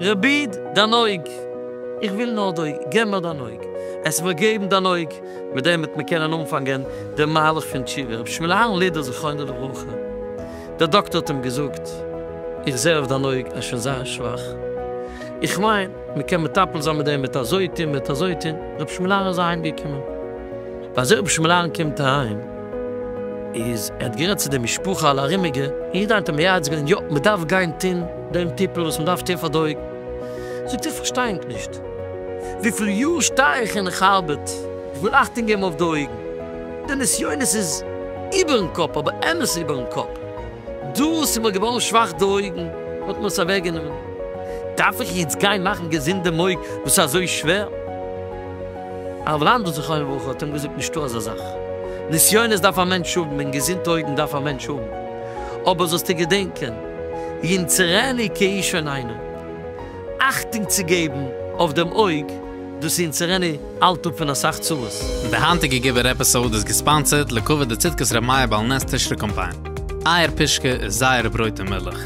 רביד, דיין אויג! איך וויל נאר דוי, געב מיר דיין אויג! עס איז מיר געבן דיין אויג! מיט דעם וועט מען קענען אנפאנגען דעם מהלך פון תשובה. רבי שמואל אהרן לידער זכרונו לברכה, דער דאקטער האט אים געזאגט, איך זעה אויף דיין אויג אז שוין זייער שוואך, איך מיין מען קען מטפל זיין מיט דעם מיט אזוי טון מיט אזוי טון, רבי שמואל אהרן איז אהיים געקומען. ביי אזוי רבי שמואל אהרן קומט אהיים, איז ער האט גערעדט צו די משפחה אלע ארומיגע, און יעדער איינער האט אים מייעץ געווען, יא מען דארף גיין טון, דעם טיפּל וואָס מען דאַרף טון פֿאַר די אויגן. זאָגט ער, פֿאַרשטיי איך נישט. וויפֿל יאָר שטיי איך און איך אַרבעט, איך וויל אַכטונג געבן אויף די אויגן. די נסיונות איז איבערן קאָפּ, אָבער אמת איבערן קאָפּ. דאָס איז מיר געוואָרן שוואַך די אויגן, מען האָט מיר עס אַוועקגענומען. דאַרף איך יעצט גיין מאַכן געזונט דעם אויג וואָס איז אַזוי שווער? הרב לאַנדאָ זכרונו לברכה האָט אים געזאָגט, נישטאָ אַזאַ זאַך. נסיונות דאַרף אַ מענטש האָבן און געזונט אויגן דאַרף אַ מענטש האָבן. אָבער זאָלסטו געדענקען. יונצערעני קע איז שוין איינער? אכטונג צו געבן אויף דעם אויג, דאס יונצערעני האלט אפ פון אסאך צרות. די היינטיגע געווער עפיסאוד איז געספאנסערט לכבוד די צדקת ר' מאיר בעל נס תשרי קאמפיין. אייער פישקע איז זייער ברויט און מילך.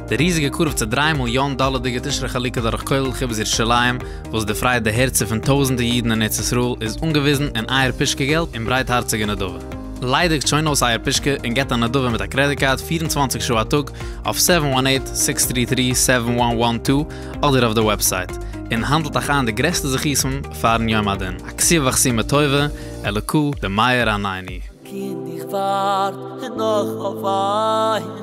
די ריזיגע קרוב צו דריי מיליאן דאלערדיגע תשרי חלוקה דורך כולל חיבת ירושלים וואס דערפרייט די הערצער פון טויזענטע אידן אין ארץ ישראל איז אנגעוויזן אין אייער פישקע געלט און ברייטהארציגע נדבה. ליידיגט שוין אויס אייער פושקע און געבט א נדבה מיט א קרעדיט קארד פֿיר און צוואַנציק שעה א טאג אויף סעווען וואן עיט, סיקס טרי טרי, סעווען וואן וואן טו אדער אויף די וועבסייט און האנדלט אייך איין די גרעסטע זכותים פארן יום הדין. עקשיא ועכשיא מה טובו אלוקו למאיר עינינו. קינד איך ווארט נאך אויף דיין.